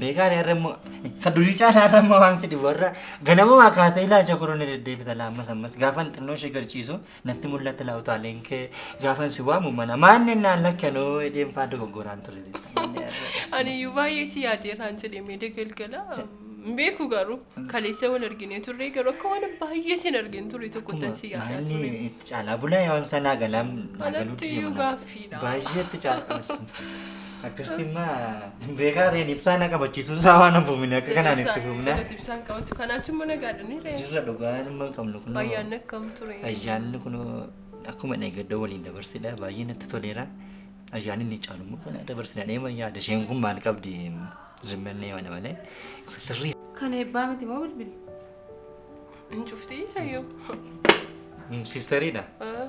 Beekaan har'a immoo isa durii caalaa har'a immoo waan si dhibu har'a ganamumaa kaatee ilaalcha koroo ni deddeebita laa ammas ammas gaafan xinnoo ishee garciisu natti mul'atti laa utaaleen kee gaafan si waamu mana maanni naan lakkanoo hidheen faa dogoggoraan ture beektaa. Ani iyyuu baay'ee si yaadee irraan jedhee mee degalgala. Hin beeku garuu kaleessa wal arginee turre garuu akka waan baay'ee sin argin ture tokkottan si yaadaa ture. Maanni itti caalaa bulaa waan sanaa galaam naa galuu Anatti iyyuu gaaffiidha. Baay'ee itti caalaa. Akkasitti immaa beekaa reen ibsaa na qabachiisuun isaa waan hin fuumine akka kanaan itti fuumna. Jalatti ibsaan qabatu kanaan simmoo nagaadhanii ree. Jirra dhugaa nama hin qabnu kun. Ayyaanni akkam ture. Ayyaanni kun akkuma eeggadoo waliin dabarsidha baay'ee natti toleera. Ayyaanni inni caalu immoo kana dabarsina dheema yaada isheen kun maal qabdi zimmannee mana malee sirrii Kan eebbaa miti moo bilbili? Hin cufti sayyoo. Siisteriidha.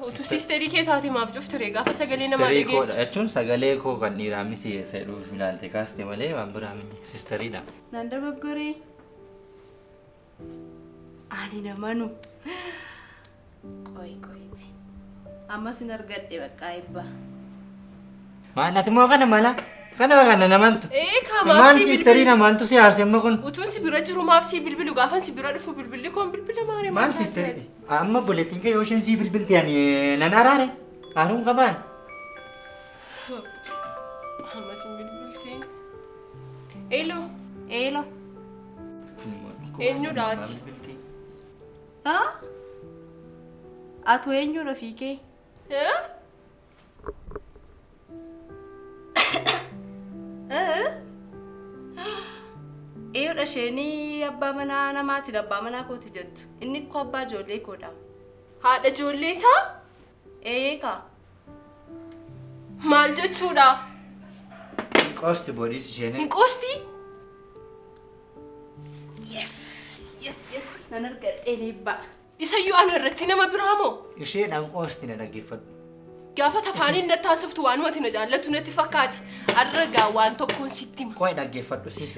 Utuu siisterii kee taate maaf cufti ree gaafa sagalee namaa Sisterii koodha dhageessu. jechuun sagalee koo kan dhiiraa miti eessa dhuuf ilaalte kaaste malee waan biraa miti. Siisteriidha. Naan dogoggoree. Ani namanu. Qoy qoyti. Ammas hin argadhe baqqaa eebbaa. Maal ati moo kana mala? Kana kana namaltu. Ee kaa maaf Maal sii siisterii bilbilu? namaltu si haarse amma kun? Utuun si bira jiru maaf sii bilbilu gaafan si bira dhufu bilbilli koon bilbila maaree Maal taate siisterii? ati? Amma obboleettiin kee yoo isheen sii bilbilti ani nan araare. Haaruun qabaan. Ammas hin bilbiltiin. Eeloo Eelo. Eenyu dhaati? Haa? Atu eenyudha fiikee? ee? Eeyyoodha isheenii abbaa manaa namaatiin abbaa manaa kooti jettu. Inni ikko abbaa ijoollee koodha. Haadha ijoollee isaa? Eeyee kaa. Maal jechuudha? Qoosti boodiis isheenii. Hin qoosti? Yes, yes, yes. Nan argadhe eebba. Isayyuu ana irratti nama biraa moo? Isheen anqoosti na dhaggeeffadhu. Gaafa tafaaniin natti haasoftu waanumati na jaallatu natti fakkaati. Har'a gaa waan tokkoon sitti hima. Qoy dhaggeeffadhu sis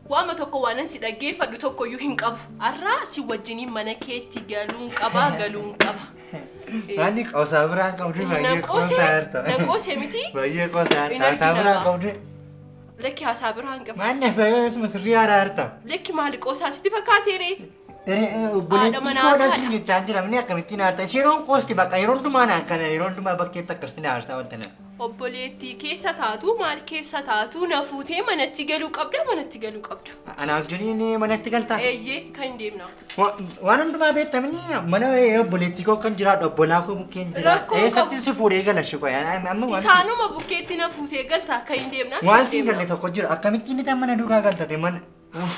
Waama tokko waanan si dhaggeeffadhu tokkoyyuu hin qabu. Har'a si wajjiniin mana keetti galuun qaba galuun qaba. Ani qoosaa biraan qabdu baay'ee Nan qoose, qoosaa harta. nan qoose miti. Baay'ee qoosaa Hin harta. Haasaa argina biraan gaa. qabdu. Lakki haasaa biraan qaba. Maanni haasaa yoo eessuma sirrii haaraa harta. Lakki maali qoosaa sitti fakkaatee ree? Haadha manaa Obboleettii saadha. siin jechaa jira minni akkamittiin aarta. Isheen roon qoosti bakka yeroo hundumaa naan kana yeroo hundumaa bakkeetti akkasitti na aarsaa walta naan. Obboleettii keessa taatu maal keessa taatu na fuutee manatti galuu qabda manatti galuu qabda. Anaaf jiriin manatti galtaa. Eeyyee kan hin deemnaaf. Wa- Waan hundumaa beektamni mana obboleettii koo kan jiraadhu obbolaa koo bukkeen jira. Rakkoo qabu. Eessatti si fuudhee gala shikoo amma waan. Isaanuma bukkeetti na fuutee galta kan hin deemnaaf. Waan hin siin galle deemnaaf. tokko jira akkamittiin itti mana duukaa galtate mana. Uff.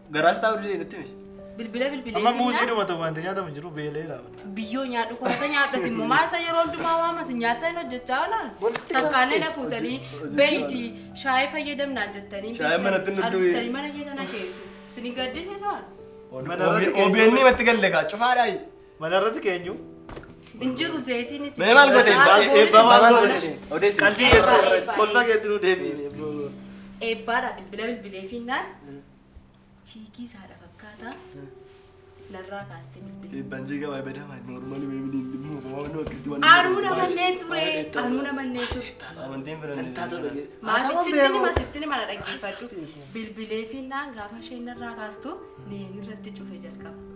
Garaas taa'uu didee nutti himi. Bilbila bilbilee. Amma muuzii dhuma ta'u wanti nyaatamu hin jiru beelee raawwata. Biyyoo nyaadhu koota nyaadhati immoo maasa yeroo hundumaa waamas nyaata hin hojjechaa oolaan. Walitti Sakkaalee na galtee. fuutanii Hojii- beeyti shaayii fayyadamnaa jettanii Shaayii manatti hin dhugdu. calistanii mana keessa na keessu. Sini gaddisiisaan. Mana irratti OBN matti galle kaa cufaadhaa. Manarra si keenyu. Hin jiru zayitiinis. Mee maal godhe? Eebbaa maal godhe? Odeessi. Qalbii Eebbaa, keetti eebbaa. kolfa keetti nu deebiin. Eebbaadha bilbila bilbilee fiinnaan chiikii saadha fakkaata narraa kaaste bilbila. Eebbaan jiiga waa'ee bedamaa noormaali mee biliin dhimma waan nu akkasitti waan. Anuu namanneen ture anuu namanneen ture. Amantiin fira. Tattaa tola gee. Maatii sittini ma sittini mana dhaggeeffadhu bilbilee fiinnaan gaafa isheen narraa kaastu neen irratti cufe jalqaba.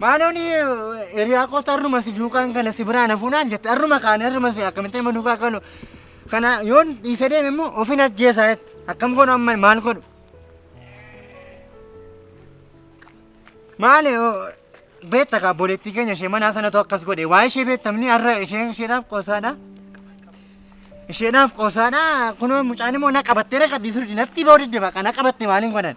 Maaloon hiriyaa kootu har'uma si duukaan kana si biraan hafuunaan jette har'uma kaane har'uma si akkamitti nama duukaa kaanu kana yoon dhiise deeme immoo ofin ajjeesaa jette akkam godhu amma maal godhu. Maali beekta kaa boleettii keenya ishee manaa sanatu akkas godhe waa ishee beektamni har'a isheen isheedhaaf qoosaadha. Isheedhaaf qoosaadha kunoo mucaan immoo na qabattee na qabdii sirdi natti ba'uu didde baqa na qabatte maaliin godhan.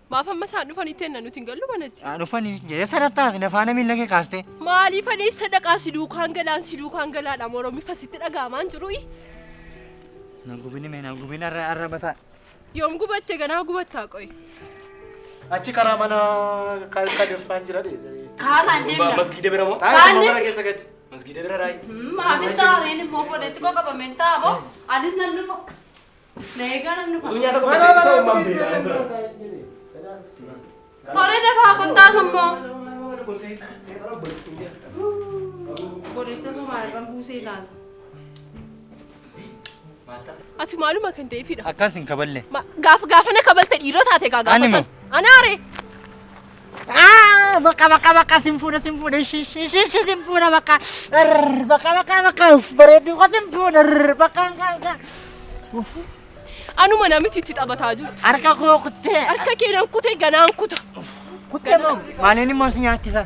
Maaf amma isaan dhufanii tenna nuti hin gallu manatti. Haa dhufanii jedhee sadartaati na faana miila kee kaastee. Maaliif ani isa dhaqaa si duukaan galaan si duukaan galaadha moromii fasitti dhagaamaan jiru'i. Na gubini mee na gubini arra arra bataa. Yoom gubatte ganaa gubattaa qoy. Achi karaa mana ka- kadirfaan jira dhe. Kaaraan deemna. Masgiida bira moo? Taa'ee Kaanni- summa mana keessa gadi. Masgiida bira raayi. Maamil taa'een immoo boodessi koo qabameen taa'amoo anis nan dhufa. Tole dafaa kottaa sammoo. Boleessa koo maalirraan buusee laata? Ati maaluma kan ta'eefidha. Akkas hin kaballe. Gaaf gaafana kabalte dhiirota taate gaa gaafa Ani moo? san. Anaare. Ah, bakka bakka bakka sin fuudha sin fuudha ishi ishi ishi ishi sin fuudha bakka Arr, bakka bakka bakka uff bareedduu koo sin fuudha Arr, bakka bakka bakka Uff, Anuma namitti itti taphataa jirtu. harka koo kuttee Harka keenan kute ganaan kuta. kuttee moo maaliin immoo si nyaachisa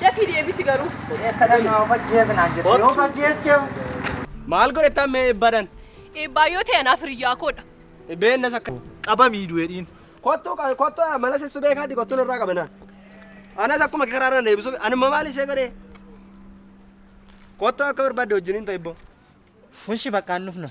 Dafii deebisi garuu. Eessa dhaqna of ajjeesa naan jette yoo of ajjeeste. Maal godhetaan mee eebbaadhaan? Eebbaa yoo ta'e anaaf hiriyyaa koodha. Beennas akka qabamii du'eedhiin. Kottuu kottuu mana sibsu beekaati kottuun irraa qabanaa. Anas akkuma karaa irra deebisu anuma maal ishee godhee? Kottuu akka barbaadde wajjin hin ta'e ibboo. Fushi bakka hin dhufna.